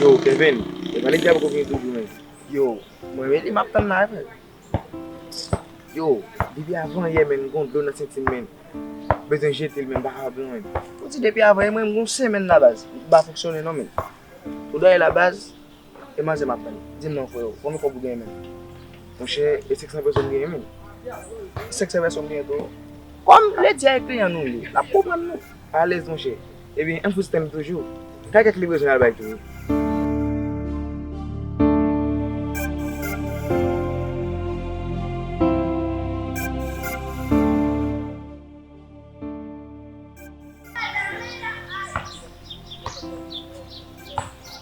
Yo Kevin, e valiz la poko vini tou pou mwen. Yo, mwen rete map tann la vre. Yo, depi avan yè menn m gon dlo nan senti m menn. M bezwen jete l men m pa kapab non menn. Ou di depi avan yè menn m gon semèn la baz. M pa fonksyone non menn. Ou dwe ale la baz. E manzè map tann. Dim non freo, konbyen kob ou genyen menm? Monchè e 500 pèsòn m genyen menm? 500 pèsòn m genyen tou. Kòm lè di a e kliyan nou li, lap konprann nou. Alèz monchè. Ebyen ann fout spann toujou. Kay kèk li bezwen al bay tou wi.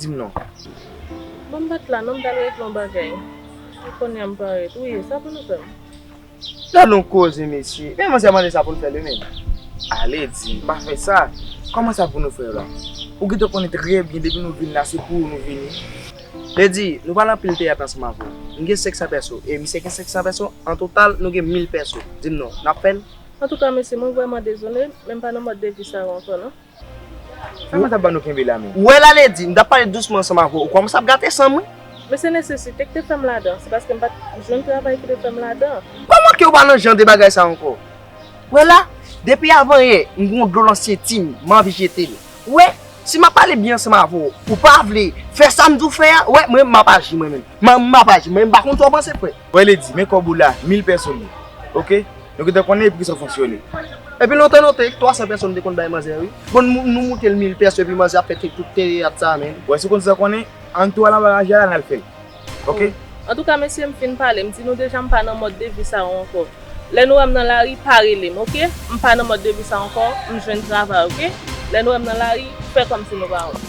Di m non. Bon m pa t la non m t al regle yon bagay e konnya m parèt wi e sa pou nou fè m. Gad yon koze mesye men manzè mande sa pou n fè li menm ale di l pa fè sa kòman sa pou nou fè yo la ou gentan konnen trè byen depi nou vin la se pou ou nou vini. Li di nou pral anpil teyat ansanm avè w m gen 500 pèso e misye gen 500 pèso an total nou gen 1000 pèso di m non n ap fè l. Antouka mesye mwen vrèman dezole men m pa nan mòd de vi sa yo ankò non. Sa mwen t ap ban nou kenbe la men. Wè la Lady, m t ap pale dousman ansanm avè w, ou kòmanse ap gate san mwen. Men se nesesite ki te fè m ladan, se paske m pa t jwenn travay ki te fè m ladan. Kòman ke ou pa nan jan de bagay sa ankò? Wè la, depi avanyè, m gen yon dlo nan senti m, m anvi jete l. Ou wè, si m ap pale byen ansanm avè w, ou pa vle fè sa m di w fè a, wè, mwen menm m ap aji mwen menm. M ap aji, mwen menm m pa konn sa w panse frè. Voye li di, men kòb ou la, mil pèsonn li. Ok. Nou gentan konnen epi kisa w fonksyone. Epi lontan non te, twa san pèsonn te konn bay manzè wi. Bon nou moute l mil pèson epi manzè ap fè te tout teyat sa menn. Bon si w konn sa konnen, an tou al anba raje a la n al fè l. Ok. Antouka mesye m fin pale, m di nou deja m pa nan mòd de vi sa yo ankò. Lè nou wè m nan lari, pa rele m ok. M pa nan mòd de vi sa ankò, m jwenn travay ok. Lè nou wè m nan lari, fè kòmsi nou pa wè m.